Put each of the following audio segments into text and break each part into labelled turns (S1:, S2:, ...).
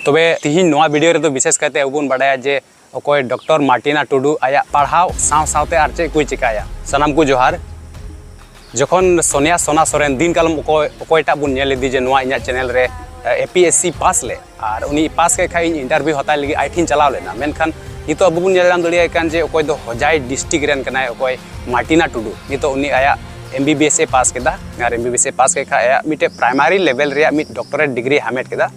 S1: ᱛᱚᱵᱮ ᱛᱤᱦᱤᱧ ᱱᱚᱣᱟ ᱵᱷᱤᱰᱤᱭᱳ ᱨᱮᱫᱚ ᱵᱤᱥᱮᱥ ᱠᱟᱭᱛᱮ ᱟᱵᱚ ᱵᱚᱱ ᱵᱟᱰᱟᱭᱟ ᱡᱮ ᱚᱠᱚᱭ ᱰᱚᱠᱴᱚᱨ ᱢᱟᱨᱴᱤᱱᱟ ᱴᱩᱰᱩ ᱟᱭᱟᱜ ᱯᱟᱲᱦᱟᱣ ᱥᱟᱶ ᱥᱟᱶᱛᱮ ᱟᱨ ᱪᱮᱫ ᱠᱚᱭ ᱪᱤᱠᱟᱭᱟ ᱥᱟᱱᱟᱢ ᱠᱚ ᱡᱚᱦᱟᱨ ᱡᱚᱠᱷᱚᱱ ᱥᱚᱱᱤᱭᱟ ᱥᱚᱱᱟ ᱥᱚᱨᱮᱱ ᱫᱤᱱ ᱠᱟᱞᱚᱢ ᱚᱠᱚᱭ ᱚᱠᱚᱭᱴᱟᱜ ᱵᱚᱱ ᱧᱮᱞ ᱤᱫᱤ ᱡᱮ ᱱᱚᱣᱟ ᱤᱧᱟᱹᱜ ᱪᱮᱱᱮᱞ ᱨᱮ A P S C pass ᱞᱮᱫ ᱟᱨ ᱩᱱᱤ ᱯᱟᱥ ᱠᱮᱫ ᱠᱷᱟᱡ ᱤᱧ ᱤᱱᱴᱟᱨᱵᱷᱤᱭᱩ ᱦᱟᱛᱟᱣ ᱞᱟᱹᱜᱤᱫ ᱟᱡ ᱴᱷᱮᱱ ᱪᱟᱞᱟᱣ ᱞᱮᱱᱟ ᱢᱮᱱᱠᱷᱟᱱ ᱱᱤᱛᱚᱜ ᱟᱵᱚ ᱵᱚᱱ ᱧᱮᱞ ᱧᱟᱢ ᱫᱟᱲᱮᱭᱟᱭ ᱠᱟᱱ ᱡᱮ ᱚᱠᱚᱭ ᱫᱚ ᱦᱚᱡᱟᱭ ᱰᱤᱥᱴᱨᱤᱠ ᱨᱮᱱ ᱠᱟᱱᱟᱭ ᱚᱠᱚᱭ ᱢᱟᱨᱴᱤᱱᱟ ᱴᱩᱰᱩ ᱱᱤᱛᱚᱜ ᱩᱱᱤ ᱟᱭᱟᱜ ᱮᱢ ᱵᱤ ᱵᱤ ᱮᱥ ᱮ ᱯᱟᱥ ᱠᱮᱫᱟ ᱟᱨ ᱮᱢ ᱵᱤ ᱵᱤ ᱮᱥ ᱮ ᱯᱟᱥ ᱠᱮᱫ ᱠᱷᱟᱡ ᱟᱭᱟᱜ ᱢᱤᱫᱴᱮᱡ ᱯᱨᱟᱭᱢᱟᱨᱤ ᱞᱮᱵᱮᱞ ᱨᱮᱭᱟᱜ ᱢᱤᱫ ᱰᱚᱠᱴᱚᱨᱮᱴ ᱰᱤᱜᱽᱨᱤ ᱦᱟᱢᱮᱴ ᱠᱮᱫᱟ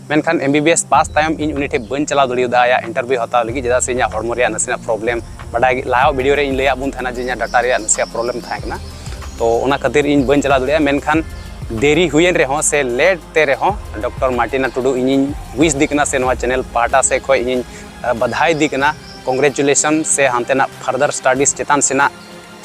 S1: ᱢᱮᱱᱠᱷᱟᱱ M B B S pass ᱛᱟᱭᱚᱢ ᱤᱧ ᱩᱱᱤ ᱴᱷᱮᱱ ᱵᱟᱹᱧ ᱪᱟᱞᱟᱣ ᱫᱟᱲᱮᱭᱟᱫᱟ ᱟᱭᱟᱜ ᱤᱱᱴᱟᱨᱵᱷᱤᱭᱩ ᱦᱟᱛᱟᱣ ᱞᱟᱹᱜᱤᱫ ᱪᱮᱫᱟᱜ ᱥᱮ ᱤᱧᱟᱹᱜ ᱦᱚᱲᱢᱚ ᱨᱮᱭᱟᱜ ᱱᱟᱥᱮᱱᱟᱜ ᱯᱨᱚᱵᱞᱮᱢ ᱵᱟᱰᱟᱭ ᱞᱟᱦᱟ ᱵᱷᱤᱰᱤᱭᱳ ᱨᱮ ᱤᱧ ᱞᱟᱹᱭᱟᱫ ᱵᱚᱱ ᱛᱟᱦᱮᱱᱟ ᱡᱮ ᱤᱧᱟᱹᱜ ᱰᱟᱴᱟ ᱨᱮᱭᱟᱜ ᱱᱟᱥᱮᱭᱟᱜ ᱯᱨᱚᱵᱞᱮᱢ ᱛᱟᱦᱮᱸ ᱠᱟᱱᱟ ᱛᱚ ᱚᱱᱟ ᱠᱷᱟᱹᱛᱤᱨ ᱤᱧ ᱵᱟᱹᱧ ᱪᱟᱞᱟᱣ ᱫᱟᱲᱮᱭᱟᱜᱼᱟ ᱢᱮᱱᱠᱷᱟᱱ ᱫᱮᱨᱤ ᱦᱩᱭᱮᱱ ᱨᱮᱦᱚᱸ ᱥᱮ ᱞᱮᱴ ᱛᱮ ᱨᱮᱦᱚᱸ ᱰᱚᱠᱴᱚᱨ ᱢᱟᱨᱴᱤᱱᱟ ᱴᱩᱰᱩ ᱤᱧᱤᱧ ᱣᱤᱥ ᱫᱤ ᱠᱟᱱᱟ ᱥᱮ ᱱᱚᱣᱟ ᱪᱮᱱᱮᱞ ᱯᱟᱦᱴᱟ ᱥᱮ ᱠᱷᱚᱡ ᱤᱧᱤᱧ ᱵᱟᱫᱷᱟᱭ ᱫᱤ ᱠᱟᱱᱟ ᱠᱚᱝᱜᱨᱮᱪᱩᱞᱮᱥᱚᱱ ᱥᱮ ᱦᱟᱱᱛᱮᱱᱟᱜ ᱯᱷᱟᱨᱫᱟᱨ ᱥᱴᱟᱰᱤᱥ ᱪᱮᱛᱟᱱ ᱥᱮᱱᱟᱜ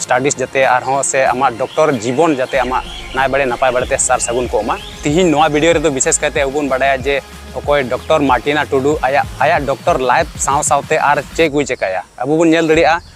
S1: ᱥᱴᱟᱰᱤᱥ ᱡᱟᱛᱮ ᱟᱨᱦᱚᱸ ᱥᱮ ᱟᱢᱟᱜ ᱰᱚᱠᱴᱚᱨ ᱡᱤᱵᱚᱱ ᱡᱟᱛᱮ ᱟᱢᱟᱜ ᱱᱟᱭ ᱵᱟᱲᱮ ᱱᱟᱯᱟᱭ ᱵᱟᱲᱮᱛᱮ ᱥᱟᱨ ᱥᱟᱹᱜᱩᱱ ᱠᱚᱜ ᱢᱟ ᱛᱤᱦᱤᱧ ᱱᱚᱣᱟ ᱵᱷᱤᱰᱤᱭᱳ ᱨᱮᱫᱚ ᱵᱤᱥᱮᱥ ᱠᱟᱭᱛᱮ ᱟᱵᱚ ᱵᱚᱱ ᱵᱟᱰᱟᱭᱟ ᱡᱮ ᱚᱠᱚᱭ ᱰᱚᱠᱴᱚᱨ ᱢᱟᱨᱴᱤᱱᱟ ᱴᱩᱰᱩ ᱟᱭᱟᱜ ᱟᱭᱟᱜ ᱰᱚᱠᱴᱚᱨ ᱞᱟᱭᱤᱯᱷ ᱥᱟᱶ ᱥᱟᱶᱛᱮ ᱟᱨ ᱪᱮᱫ ᱠᱚᱭ ᱪᱮᱠᱟᱭᱟ ᱟᱵᱚ ᱵᱚᱱ ᱧᱮᱞ ᱫᱟᱲᱮᱭᱟᱜᱼᱟ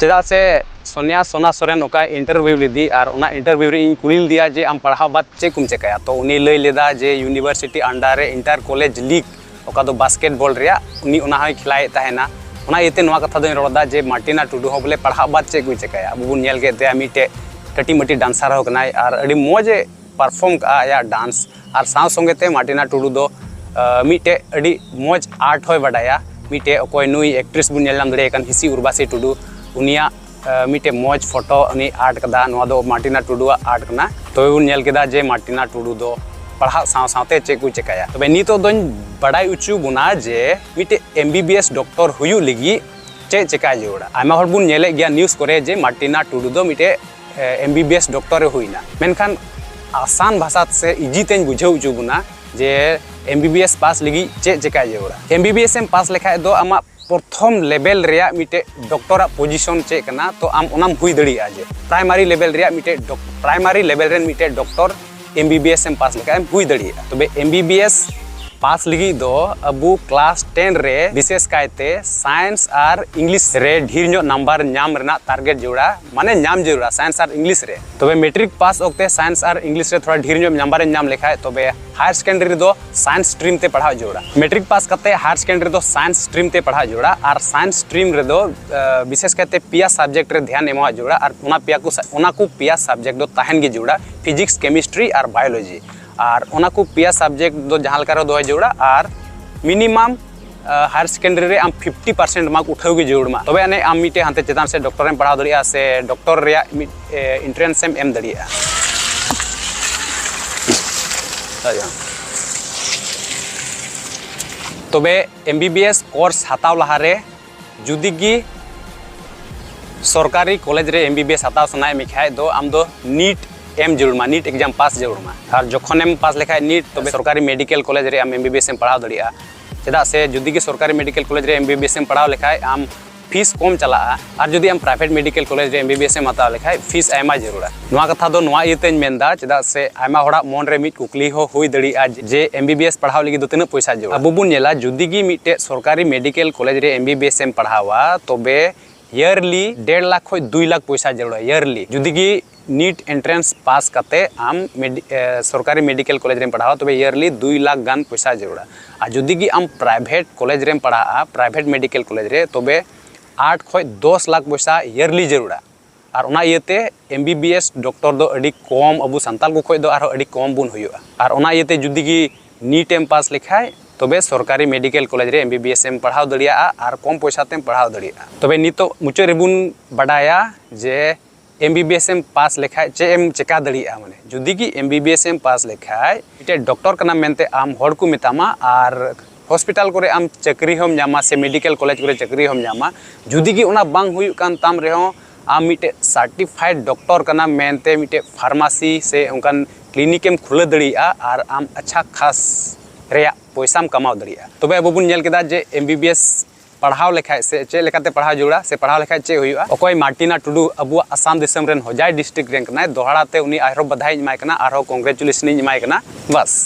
S1: ᱪᱮᱫᱟᱜ ᱥᱮ ᱥᱚᱱᱤᱭᱟ ᱥᱚᱱᱟ ᱥᱚᱨᱮᱱ ᱚᱠᱟ ᱤᱱᱴᱟᱨᱵᱷᱤᱭᱩ ᱞᱮᱫᱮ ᱟᱨ ᱚᱱᱟ ᱤᱱᱴᱟᱨᱵᱷᱤᱭᱩ ᱨᱮ ᱤᱧ ᱠᱩᱞᱤ ᱞᱮᱫᱮᱭᱟ ᱡᱮ ᱟᱢ ᱯᱟᱲᱦᱟᱣ ᱵᱟᱫᱽ ᱪᱮᱫ ᱠᱚᱢ ᱪᱤᱠᱟᱹᱭᱟ ᱛᱚ ᱩᱱᱤ ᱞᱟᱹᱭ ᱞᱮᱫᱟᱭ ᱡᱮ ᱤᱭᱩᱱᱤᱵᱷᱟᱨᱥᱤᱴᱤ ᱟᱱᱰᱟᱨ ᱨᱮ ᱤᱱᱴᱟᱨ ᱠᱚᱞᱮᱡᱽ ᱞᱤᱜᱽ ᱚᱠᱟ ᱫᱚ ᱵᱟᱥᱠᱮᱴ ᱵᱚᱞ ᱨᱮᱭᱟᱜ ᱩᱱᱤ ᱚᱱᱟ ᱦᱚᱸᱭ ᱠᱷᱮᱞᱟᱭᱮᱫ ᱛᱟᱦᱮᱱᱟ ᱚᱱᱟ ᱤᱭᱟᱹᱛᱮ ᱱᱚᱣᱟ ᱠᱟᱛᱷᱟ ᱫᱚᱧ ᱨᱚᱲᱫᱟ ᱡᱮ ᱢᱟᱨᱴᱤᱱᱟ ᱴᱩᱰᱩ ᱦᱚᱸ ᱵᱚᱞᱮ ᱯᱟᱲᱦᱟᱣ ᱵᱟᱫᱽ ᱪᱮᱫ ᱠᱚᱭ ᱪᱤᱠᱟᱹᱭᱟ ᱟᱵᱚ ᱵᱚᱱ ᱧᱮᱞ ᱠᱮᱫ ᱛᱟᱭᱟ ᱢᱤᱫᱴᱮᱡ ᱠᱟᱹᱴᱤᱡ ᱢᱟᱹᱴᱤᱡ ᱰᱟᱱᱥᱟᱨ ᱦᱚᱸ ᱠᱟᱱᱟᱭ ᱟᱨ ᱟᱹᱰᱤ ᱢᱚᱡᱽ ᱮ ᱯᱟᱨᱯᱷᱚᱨᱢ ᱠᱟᱜᱼᱟ ᱟᱭᱟᱜ ᱰᱟᱱᱥ ᱟᱨ ᱥᱟᱶ ᱥᱚᱸᱜᱮ ᱛᱮ ᱢᱟᱨᱴᱤᱱᱟ ᱴᱩᱰᱩ ᱫᱚ ᱢᱤᱫᱴᱮᱡ ᱟᱹᱰᱤ ᱢᱚᱡᱽ ᱟᱨᱴ ᱦᱚᱸᱭ ᱵᱟᱰᱟᱭᱟ ᱢᱤᱫᱴᱮᱡ ᱚᱠᱚᱭ ᱱᱩᱭ ᱮᱠᱴᱨᱮᱥ ᱵᱚᱱ ᱧᱮᱞ ᱧᱟᱢ ᱫᱟᱲᱮᱭᱟᱭ ᱠᱟᱱ ᱦᱤᱥᱤ ᱩᱨᱵᱟᱥᱤ ᱴᱩᱰᱩ ᱩᱱᱤᱭᱟᱜ ᱢᱤᱫᱴᱮᱡ ᱢᱚᱡᱽ ᱯᱷᱳᱴᱳ ᱩᱱᱤ ᱟᱨᱴ ᱠᱟᱫᱟ ᱱᱚᱣᱟ ᱫᱚ ᱢᱟᱨᱴᱤᱱᱟ ᱴᱩᱰᱩᱣᱟᱜ ᱟᱨᱴ ᱠᱟᱱᱟ ᱛᱚᱵᱮ ᱵᱚᱱ ᱧᱮᱞ ᱠᱮᱫᱟ ᱡᱮ ᱢᱟᱨᱴᱤᱱᱟ ᱴᱩᱰᱩ ᱫᱚ ᱯᱟᱲᱦᱟᱜ ᱥᱟᱶ ᱥᱟᱶᱛᱮ ᱪᱮᱫ ᱠᱚ ᱪᱮᱠᱟᱭᱟ ᱛᱚᱵᱮ ᱱᱤᱛᱚᱜ ᱫᱚᱧ ᱵᱟᱰᱟᱭ ᱦᱚᱪᱚ ᱵᱚᱱᱟ ᱡᱮ ᱢᱤᱫᱴᱮᱡ M B B S doctor ᱦᱩᱭᱩᱜ ᱞᱟᱹᱜᱤᱫ ᱪᱮᱫ ᱪᱮᱠᱟᱭ ᱡᱟᱹᱨᱩᱲᱟ ᱟᱭᱢᱟ ᱦᱚᱲ ᱵᱚᱱ ᱧᱮᱞᱮᱫ ᱜᱮᱭᱟ ᱱᱤᱭᱩᱡᱽ ᱠᱚᱨᱮ ᱡᱮ ᱢᱟᱨᱴᱤᱱᱟ ᱴᱩᱰᱩ ᱫᱚ ᱢᱤᱫᱴᱮᱡ ᱮᱢ ᱵᱤ ᱵᱤ ᱮᱥ ᱰᱚᱠᱴᱚᱨᱮ ᱦᱩᱭᱱᱟ ᱢᱮᱱᱠᱷᱟᱱ ᱟᱥᱟᱱ ᱵᱷᱟᱥᱟ ᱥᱮ ᱤᱡᱤ ᱛᱮᱧ ᱵᱩᱡᱷᱟᱹᱣ ᱦᱚᱪᱚ ᱵᱚᱱᱟ ᱡᱮ M B B S pass ᱞᱟᱹᱜᱤᱫ ᱪᱮᱫ ᱪᱮᱠᱟᱭ ᱡᱟᱹᱨᱩᱲᱟ ᱮᱢ ᱵᱤ ᱵᱤ ᱮᱥ ᱮᱢ ᱯᱟᱥ ᱞᱮᱠᱷᱟᱡ ᱫᱚ ᱟᱢᱟᱜ ᱯᱨᱚᱛᱷᱚᱢ ᱞᱮᱵᱮᱞ ᱨᱮᱭᱟᱜ ᱢᱤᱫᱴᱮᱡ ᱰᱚᱠᱴᱚᱨᱟᱜ ᱯᱚᱡᱤᱥᱚᱱ ᱪᱮᱫ ᱠᱟᱱᱟ ᱛᱚ ᱟᱢ ᱚᱱᱟᱢ ᱦᱩᱭ ᱫᱟᱲᱮᱭᱟᱜᱼᱟ ᱡᱮ ᱯᱨᱟᱭᱢᱟᱨᱤ ᱞᱮᱵᱮᱞ ᱨᱮᱭᱟᱜ ᱢᱤᱫᱴᱮᱡ ᱯᱨᱟᱭᱢᱟᱨᱤ ᱞᱮᱵᱮᱞ ᱨᱮᱱ ᱢᱤᱫᱴᱮᱡ doctor M B B S ᱮᱢ ᱯᱟᱥ ᱞᱮᱠᱷᱟᱡ ᱮᱢ ᱦᱩᱭ ᱫᱟᱲᱮᱭᱟᱜᱼᱟ ᱛᱚᱵᱮ M B B S pass ᱞᱟᱹᱜᱤᱫ ᱫᱚ ᱟᱵᱚ ᱠᱞᱟᱥ ᱴᱮᱱ ᱨᱮ ᱵᱤᱥᱮᱥ ᱠᱟᱭᱛᱮ ᱥᱟᱭᱮᱱᱥ ᱟᱨ ᱤᱝᱞᱤᱥ ᱨᱮ ᱰᱷᱮᱨ ᱧᱚᱜ ᱱᱟᱢᱵᱟᱨ ᱧᱟᱢ ᱨᱮᱱᱟᱜ ᱴᱟᱨᱜᱮᱴ ᱡᱟᱹᱨᱩᱲᱟ ᱢᱟᱱᱮ ᱧᱟᱢ ᱡᱟᱹᱨᱩᱲᱟ ᱥᱟᱭᱮᱱᱥ ᱟᱨ ᱤᱝᱞᱤᱥ ᱨᱮ ᱛᱚᱵᱮ ᱢᱮᱴᱨᱤᱠ ᱯᱟᱥ ᱚᱠᱛᱮ ᱥᱟᱭᱮᱱᱥ ᱟᱨ ᱤᱝᱞᱤᱥ ᱨᱮ ᱛᱷᱚᱲᱟ ᱰᱷᱮᱨ ᱧᱚᱜ ᱱᱟᱢᱵᱟᱨ ᱮᱢ ᱧᱟᱢ ᱞᱮᱠᱷᱟᱡ ᱛᱚᱵᱮ ᱦᱟᱭᱟᱨ ᱥᱮᱠᱮᱱᱰᱟᱨᱤ ᱨᱮᱫᱚ ᱥᱟᱭᱮᱱᱥ ᱥᱴᱨᱤᱢ ᱛᱮ ᱯᱟᱲᱦᱟᱣ ᱡᱟᱹᱨᱩᱲᱟ ᱢᱮᱴᱨᱤᱠ ᱯᱟᱥ ᱠᱟᱛᱮ ᱦᱟᱭᱟᱨ ᱥᱮᱠᱮᱱᱰᱟᱨᱤ ᱨᱮᱫᱚ ᱥᱟᱭᱮᱱᱥ ᱥᱴᱨᱤᱢ ᱛᱮ ᱯᱟᱲᱦᱟᱣ ᱡᱟᱹᱨᱩᱲᱟ ᱟᱨ ᱥᱟᱭᱮᱱᱥ ᱥᱴᱨᱤᱢ ᱨᱮᱫᱚ ᱵᱤᱥᱮᱥ ᱠᱟᱭᱛᱮ ᱯᱮᱭᱟ ᱥᱟᱵᱡᱮᱠᱴ ᱨᱮ ᱫᱷᱮᱭᱟᱱ ᱮᱢᱚᱜ ᱡᱟᱹᱨᱩᱲᱟ ᱟᱨ ᱚᱱᱟ ᱯᱮᱭᱟ ᱠᱚ ᱚᱱᱟ ᱠᱚ ᱯᱮᱭᱟ ᱥᱟᱵᱡᱮᱠᱴ ᱫᱚ ᱛᱟᱦᱮᱱ ᱜᱮ ᱡᱟᱹᱨᱩᱲᱟ ᱯᱷᱤᱡᱤᱠᱥ ᱠᱮᱢᱤᱥᱴᱨᱤ ᱟᱨ ᱵᱟᱭᱳᱞᱚᱡᱤ ᱟᱨ ᱚᱱᱟ ᱠᱚ ᱯᱮᱭᱟ ᱥᱟᱵᱡᱮᱠᱴ ᱫᱚ ᱡᱟᱦᱟᱸ ᱞᱮᱠᱟ ᱨᱮ ᱫᱚᱦᱚᱭ ᱡᱟᱹᱨᱩᱲᱟ ᱟᱨ ᱢᱤᱱᱤᱢᱟᱢ ᱦᱟᱭᱟᱨ ᱥᱮᱠᱮᱱᱰᱟᱨᱤ ᱨᱮ ᱟᱢ ᱯᱷᱤᱯᱴᱤ ᱯᱟᱨᱥᱮᱱᱴ ᱢᱟᱨᱠ ᱩᱴᱷᱟᱹᱣ ᱜᱮ ᱡᱟᱹᱨᱩᱲ ᱢᱟ ᱛᱚᱵᱮ ᱟᱹᱱᱤᱡ ᱟᱢ ᱢᱤᱫᱴᱮᱱ ᱦᱟᱱᱛᱮ ᱪᱮᱛᱟᱱ ᱥᱮ ᱰᱚᱠᱴᱚᱨᱮᱢ ᱯᱟᱲᱦᱟᱣ ᱫᱟᱲᱮᱭᱟᱜᱼᱟ ᱥᱮ ᱰᱚᱠᱴᱚᱨ ᱨᱮᱭᱟᱜ ᱢᱤᱫ ᱮᱱᱴᱨᱮᱱᱥ ᱮᱢ ᱮᱢ ᱫᱟᱲᱮᱭᱟᱜᱼᱟ ᱛᱚᱵᱮ M B B S course ᱦᱟᱛᱟᱣ ᱞᱟᱦᱟᱨᱮ ᱡᱩᱫᱤ ᱜᱮ ᱥᱚᱨᱠᱟᱨᱤ ᱠᱚᱞᱮᱡᱽ ᱨᱮ ᱮᱢ ᱵᱤ ᱵᱤ ᱮᱥ ᱦᱟᱛᱟᱣ ᱥᱟᱱᱟᱭᱮᱫ ᱢᱮ ᱠᱷᱟᱡ ᱫᱚ ᱟᱢ ᱫᱚ ᱱᱤᱴ ᱮᱢ ᱡᱟᱹᱨᱩᱲ ᱢᱟ ᱱᱤᱴ ᱮᱠᱡᱟᱢ ᱯᱟᱥ ᱡᱟᱹᱨᱩᱲ ᱢᱟ ᱟᱨ ᱡᱚᱠᱷᱚᱱᱮᱢ ᱯᱟᱥ ᱞᱮᱠᱷᱟᱡ ᱱᱤᱴ ᱛᱚᱵᱮ ᱥᱚᱨᱠᱟᱨᱤ ᱢᱮᱰᱤᱠᱮᱞ ᱠᱚᱞᱮᱡᱽ ᱨᱮ ᱟᱢ ᱮᱢ ᱵᱤ ᱵᱤ ᱮᱥ ᱮᱢ ᱯᱟᱲᱦᱟᱣ ᱫᱟᱲᱮᱭᱟᱜᱼᱟ ᱪᱮᱫᱟᱜ ᱥᱮ ᱡᱩᱫᱤ ᱜᱮ ᱥᱚᱨᱠᱟᱨᱤ ᱢᱮᱰᱤᱠᱮᱞ ᱠᱚᱞᱮᱡᱽ ᱨᱮ ᱮᱢ ᱵᱤ ᱵᱤ ᱮᱥ ᱮᱢ ᱯᱟᱲᱦᱟᱣ ᱞᱮᱠᱷᱟᱡ ᱟᱢ ᱯᱷᱤᱥ ᱠᱚᱢ ᱪᱟᱞᱟᱜᱼᱟ ᱟᱨ ᱡᱩᱫᱤ ᱟᱢ ᱯᱨᱟᱭᱵᱷᱮᱴ ᱢᱮᱰᱤᱠᱮᱞ ᱠᱚᱞᱮᱡᱽ ᱨᱮ ᱮᱢ ᱵᱤ ᱵᱤ ᱮᱥ ᱮᱢ ᱦᱟᱛᱟᱣ ᱞᱮᱠᱷᱟᱡ ᱯᱷᱤᱥ ᱟᱭᱢᱟ ᱡᱟᱹᱨᱩᱲᱟ ᱱᱚᱣᱟ ᱠᱟᱛᱷᱟ ᱫᱚ ᱱᱚᱣᱟ ᱤᱭᱟᱹᱛᱮᱧ ᱢᱮᱱᱫᱟ ᱪᱮᱫᱟᱜ ᱥᱮ ᱟᱭᱢᱟ ᱦᱚᱲᱟᱜ ᱢᱚᱱ ᱨᱮ ᱢᱤᱫ ᱠᱩᱠᱞᱤ ᱦᱚᱸ ᱦᱩᱭ ᱫᱟᱲᱮᱭᱟᱜᱼᱟ ᱡᱮ ᱮᱢ ᱵᱤ ᱵᱤ ᱮᱥ ᱯᱟᱲᱦᱟᱣ ᱞᱟᱹᱜᱤᱫ ᱫᱚ ᱛᱤᱱᱟᱹᱜ ᱯᱚᱭᱥᱟ ᱡᱚᱲᱟ ᱟᱵᱚ ᱵᱚᱱ ᱧᱮᱞᱟ ᱡᱩᱫᱤ ᱜᱮ ᱢᱤᱫᱴᱮᱡ ᱥᱚᱨᱠᱟᱨᱤ ᱢᱮᱰᱤᱠᱮᱞ ᱠᱚᱞᱮᱡᱽ ᱨᱮ ᱮᱢ ᱵᱤ ᱵᱤ ᱮᱥ ᱮᱢ ᱯᱟᱲᱦᱟᱣᱟ ᱛᱚᱵᱮ ᱤᱭᱟᱨᱞᱤ ᱰᱮᱲ ᱞᱟᱠᱷ ᱠᱷᱚᱡ ᱫᱩᱭ ᱞᱟᱠᱷ ᱯᱚᱭᱥᱟ ᱡᱟᱹᱨᱩᱲᱟ ᱤᱭᱟᱨᱞᱤ ᱡᱩᱫᱤ ᱜᱮ ᱱᱤᱴ ᱮᱱᱴᱨᱮᱱᱥ ᱯᱟᱥ ᱠᱟᱛᱮ ᱟᱢ ᱥᱚᱨᱠᱟᱨᱤ ᱢᱮᱰᱤᱠᱮᱞ ᱠᱚᱞᱮᱡᱽ ᱨᱮᱢ ᱯᱟᱲᱦᱟᱣᱟ ᱛᱚᱵᱮ ᱤᱭᱟᱨᱞᱤ ᱫᱩᱭ ᱞᱟᱠᱷ ᱜᱟᱱ ᱯᱚᱭᱥᱟ ᱡᱟᱹᱨᱩᱲᱟ ᱟᱨ ᱡᱩᱫᱤ ᱜᱮ ᱟᱢ ᱯᱨᱟᱭᱵᱷᱮᱴ ᱠᱚᱞᱮᱡᱽ ᱨᱮᱢ ᱯᱟᱲᱦᱟᱜᱼᱟ ᱯᱨᱟᱭᱵᱷᱮᱴ ᱢᱮᱰᱤᱠᱮᱞ ᱠᱚᱞᱮᱡᱽ ᱨᱮ ᱛᱚᱵᱮ ᱟᱴ ᱠᱷᱚᱡ ᱫᱚᱥ ᱞᱟᱠᱷ ᱯᱚᱭᱥᱟ ᱤᱭᱟᱨᱞᱤ ᱡᱟᱹᱨᱩᱲᱟ ᱟᱨ ᱚᱱᱟ ᱤᱭᱟᱹᱛᱮ M B B S doctor ᱫᱚ ᱟᱹᱰᱤ ᱠᱚᱢ ᱟᱵᱚ ᱥᱟᱱᱛᱟᱲ ᱠᱚ ᱠᱷᱚᱱ ᱫᱚ ᱟᱨᱦᱚᱸ ᱟᱹᱰᱤ ᱠᱚᱢ ᱵᱚᱱ ᱦᱩᱭᱩᱜᱼᱟ ᱟᱨ ᱚᱱᱟ ᱤᱭᱟᱹᱛᱮ ᱡᱩᱫᱤ ᱜᱮ ᱱᱤᱴ ᱮᱢ ᱯᱟᱥ ᱞᱮᱠᱷᱟᱱ ᱛᱚᱵᱮ ᱥᱚᱨᱠᱟᱨᱤ ᱢᱮᱰᱤᱠᱮᱞ ᱠᱚᱞᱮᱡᱽ ᱨᱮ ᱮᱢ ᱵᱤ ᱵᱤ ᱮᱥ ᱮᱢ ᱯᱟᱲᱦᱟᱣ ᱫᱟᱲᱮᱭᱟᱜᱼᱟ ᱟᱨ ᱠᱚᱢ ᱯᱚᱭᱥᱟ ᱛᱮᱢ ᱯᱟᱲᱦᱟᱣ ᱫᱟᱲᱮᱭᱟᱜᱼᱟ ᱛᱚᱵᱮ ᱱᱤᱛᱚᱜ ᱢᱩᱪᱟᱹᱫ ᱨᱮᱵᱚᱱ ᱵᱟᱰᱟᱭᱟ ᱡᱮ ᱮᱢ ᱵᱤ ᱵᱤ ᱮᱥ ᱮᱢ ᱯᱟᱥ ᱞᱮᱠᱷᱟᱱ ᱪᱮᱫ ᱮᱢ ᱪᱤᱠᱟᱹ ᱫᱟᱲᱮᱭᱟᱜᱼᱟ ᱢᱟᱱᱮ ᱡᱩᱫᱤ ᱜᱮ ᱮᱢ ᱵᱤ ᱵᱤ ᱮᱥ ᱮᱢ ᱯᱟᱥ ᱞᱮᱠᱷᱟᱱ ᱢᱤᱫᱴᱮᱱ ᱰᱚᱠᱴᱚᱨ ᱠᱟᱱᱟᱢ ᱢᱮᱱᱛᱮ ᱟᱢ ᱦᱚᱲ ᱠᱚ ᱢᱮᱛᱟᱢᱟ ᱟᱨ ᱦᱚᱥᱯᱤᱴᱟᱞ ᱠᱚᱨᱮ ᱟᱢ ᱪᱟᱹᱠᱨᱤ ᱦᱚᱸᱢ ᱧᱟᱢᱟ ᱥᱮ ᱢᱮᱰᱤᱠᱮᱞ ᱠᱚᱞᱮᱡᱽ ᱠᱚᱨᱮ ᱪᱟᱹᱠᱨᱤ ᱦᱚᱸᱢ ᱧᱟᱢᱟ ᱡᱩᱫᱤ ᱜᱮ ᱚᱱᱟ ᱵᱟᱝ ᱦᱩᱭᱩᱜ ᱠᱟᱱ ᱛᱟᱢ ᱨᱮᱦᱚᱸ ᱟᱢ ᱢᱤᱫᱴᱮᱱ ᱥᱟᱨᱴᱤᱯᱷᱟᱭᱤᱰ ᱰᱚᱠᱴᱚᱨ ᱠᱟᱱᱟᱢ ᱢᱮᱱᱛᱮ ᱢᱤᱫᱴᱮᱱ ᱯᱷᱟᱨᱢᱟᱥᱤ ᱥᱮ ᱚᱱᱠᱟᱱ ᱠᱞᱤᱱᱤᱠ ᱮᱢ ᱠᱷᱩᱞᱟᱹᱣ ᱫᱟᱲᱮᱭᱟᱜᱼᱟ ᱟᱨ ᱟᱢ ᱟᱪᱪᱷᱟ ᱠᱷᱟᱥ ᱨᱮᱭᱟᱜ ᱯᱚᱭᱥᱟᱢ ᱠᱟᱢᱟᱣ ᱫᱟᱲᱮᱭᱟᱜᱼᱟ ᱛᱚᱵᱮ ᱟᱵᱚ ᱵᱚᱱ ᱧᱮᱞ ᱠᱮᱫᱟ ᱡᱮ ᱮᱢ ᱵᱤ ᱵᱤ ᱮᱥ ᱯᱟᱲᱦᱟᱣ ᱞᱮᱠᱷᱟᱱ ᱥᱮ ᱪᱮᱫ ᱞᱮᱠᱟᱛᱮ ᱯᱟᱲᱦᱟᱣ ᱡᱟᱹᱨᱩᱲᱟ ᱥᱮ ᱯᱟᱲᱦᱟᱣ ᱞᱮᱠᱷᱟᱱ ᱪᱮᱫ ᱦᱩᱭᱩᱜᱼᱟ ᱚᱠᱚᱭ ᱢᱟᱨᱴᱤᱱᱟ ᱴᱩᱰᱩ ᱟᱵᱚᱣᱟᱜ ᱟᱥᱟᱢ ᱫᱤᱥᱚᱢ ᱨᱮᱱ ᱦᱚᱡᱟᱭ ᱰᱤᱥᱴᱨᱤᱠᱴ ᱨᱮᱱ ᱠᱟᱱᱟᱭ ᱫᱚᱦᱲᱟ ᱛᱮ ᱩᱱᱤ ᱟᱨᱦᱚᱸ ᱵᱟᱫᱷᱟᱭᱤᱧ ᱮᱢᱟᱭ ᱠᱟᱱᱟ ᱟᱨᱦᱚᱸ ᱠᱚᱝᱜᱽᱨᱮᱪᱩᱞᱮᱥᱚᱱ ᱤᱧ ᱮᱢᱟᱭ ᱠᱟᱱᱟ ᱵᱟᱥ